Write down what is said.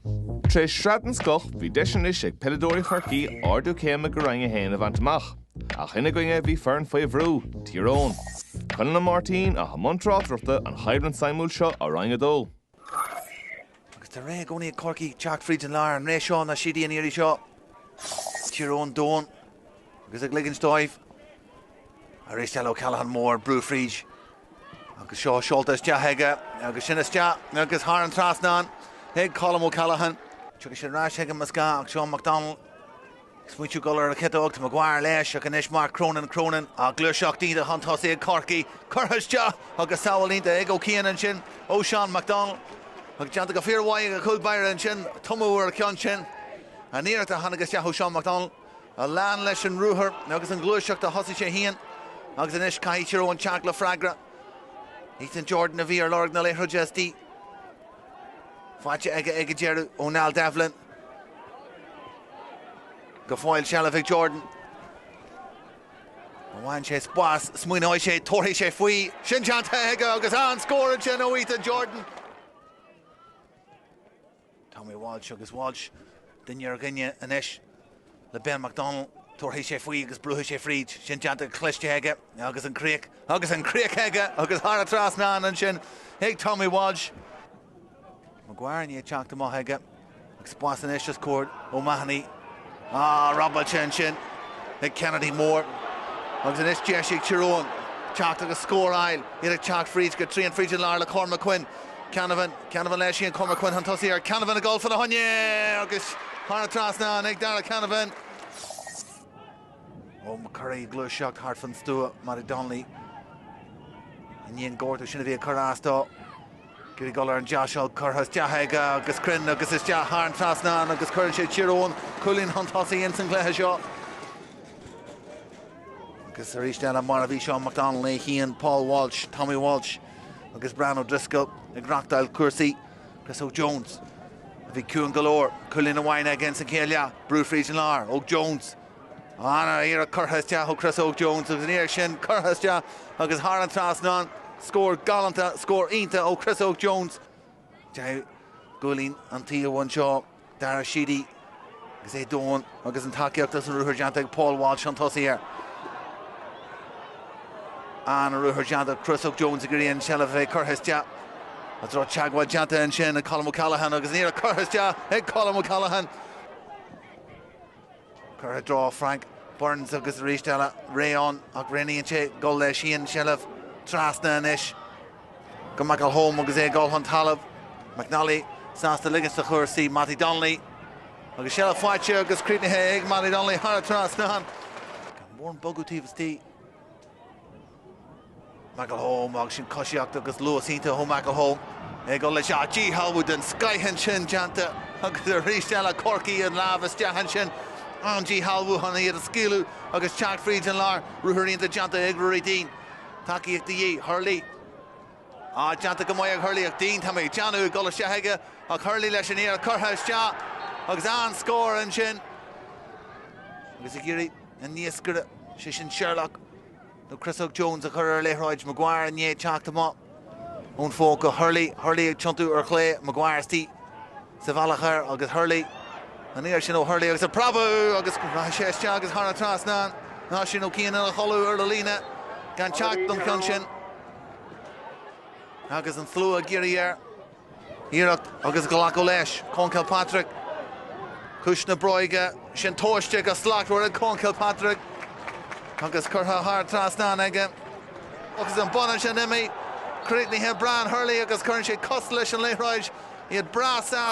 Tar éis shraith den scoth, bhí deis anois ag peileadóirí Chorcaí ardú céime go Roinn 1 a bhaint amach. Ach ina gcoinne bhí foireann faoi bhrú, Tír Eoghain. Conall Ó Máirtín a thug i mbun tráchtaireachta an bhabhta suimiúil seo ó Roinn 2. Agus tá sé réidh i gcónaí ag Corcaigh teacht fríd an lár an ré seo ná Sheedy an iarraidh seo. Tír Eoghain domhain agus ag ligint dóibh Arís eile O'Callaghan mór brú fríd agus seo seolta isteach aige agus sin isteach agus thar an trasnán ag Colm O'Callaghan. Tugadh sin ar ais chuige más ea ag Seán McDonnell ag smaointiú ag gabháil ar an chiotóg tá Maguire leis ach anois Mark Cronin, Cronin an ghluaiseacht iontach chun tosaigh ag Corcaigh, curtha isteach agus sábháil iontach ag Ó Cian ansin ó Seán McDonnell agus déanta go fíor-mhaith ag an chúl báire ansin tumadh ar an cheann sin. An iarracht a tháinig isteach ó Seán McDonnell. A lean leis an ruathar agus an ghluaiseacht a thosaigh sé féin agus anois caithfidh Tír Eoghain teacht le freagra. Ethan Jordan a bhí ar lorg na liathróide agus í faighte aige ag an deireadh ó Niall Devlin. Go fóill seilbh ag Jordan. Bhain sé spás, smaoineoidh sé, tabharfaidh sé faoi, sin déanta aige agus an scór ansin ó Ethan Jordan. Tommy Walsh agus Walsh duine ar dhuine anois le Ben McDonnell. Tabharfaidh sé faoi agus brúfaidh sé fríd. Sin déanta go cliste aige agus an críoch agus an críoch aige agus thar an trasnán ansin ag Tommy Walsh. McGeary ag teacht amach aige agus spás anois os comhair O'Mahony. Robáilte ansin ag Kennedy mór agus anois deis ag Tír Eoghain teacht agus scór a fháil iad ag teacht fríd go tréan fríd an lár le Cormac Quinn. Canavan, Canavan leis an Cormac Quinn chun tosaigh ar Canavan ag gabháil fána choinne agus thar an trasnán ag Darragh Canavan. McCurry gluaiseacht thart fan stua Mattie Donnelly. I ndiaidh an ghortaithe sin a bhí ag cur as dó Ag iarraidh gabháil ar an deasóg, curtha isteach aige agus cruinn agus isteach thar an trasnán agus cuireann sé Tír Eoghain cúilín chun tosaigh ins an gcluiche seo. Agus arís eile mar a bhí Seán McDonnell é fhéin, Paul Walsh, Tommy Walsh agus Brian O'Driscoll ag reachtáil cúrsaí. Chris Óg Jones a bhí ciúin go leor, cúilín amháin aige ins an chéad leath, brú fríd an lár, Óg Jones, An iarracht curtha isteach ó Chris Óg Jones agus an iarracht sin curtha isteach agus thar an trasnán. Scór galánta, scór iontach ó Chris Óg Jones. Cúilín ann, seo Dara Sheedy agus é domhain agus an tacaíocht agus an ruathar déanta ag Paul Walsh chun tosaigh air. An ruathar déanta, Chris Óg Jones ag iarraidh an tseilbh a bheith curtha isteach an raibh teagmháil déanta ansin ag Colm O'Callaghan agus an iarracht curtha isteach ag Colm O'Callaghan. Curtha i dtreo Frank Burns agus arís eile réidh ann ach roghnaíonn sé dul leis féin seilbh trasna anois go McElholm agus é ag dul chun talaimh. McNally sásta ligint sa chúrsaí, Mattie Donnelly agus seilbh faighte agus críochnaithe ag Mattie Donnelly thar an trasnán. Gan mórán bogadh taobh istigh. McElholm agus sin coisíocht agus luas iontach ó McElholm ag dul leis ach díshealbhú den scoith ansin déanta agus arís eile Corcaigh an lámh isteach ansin. An-díshealbhú chun iad a scaoileadh agus teacht fríd an lár. Ruathar iontach déanta ag Ruairí Deane. Tacaíocht de dhíth. Hurley á déanta go maith ag Hurley ach Deane, tá mé ag déanamh, ag dul isteach aige ach Hurley leis an iarracht curtha isteach agus an-scór ansin. Agus ag iarraidh an naoscaire, sé sin Sherlock. Nó Chris Óg Jones a chuir ar liathróid Maguire i ndéidh teacht amach ón phóca go Hurley. Hurley ag tiontú ar chlé, Maguire istigh sa bhealach air agus Hurley. An iarracht sin ó Hurley agus ag preabadh agus go rachaidh sé isteach agus thar an trasnán. Ansin ó cineál ina chodladh ar an líne gan teacht don cheann sin agus an slua ag iarraidh air. Iarracht agus glacadh leis, Conn Kilpatrick. Ciumhais na bróige, sin tomhaiste go slachtmhar ag Conn Kilpatrick agus curtha thar trasnán aige. Agus an bonnán sin imithe, críochnaithe Brian Hurley agus cuireann sé cos leis an liathróid, iad breá sásta.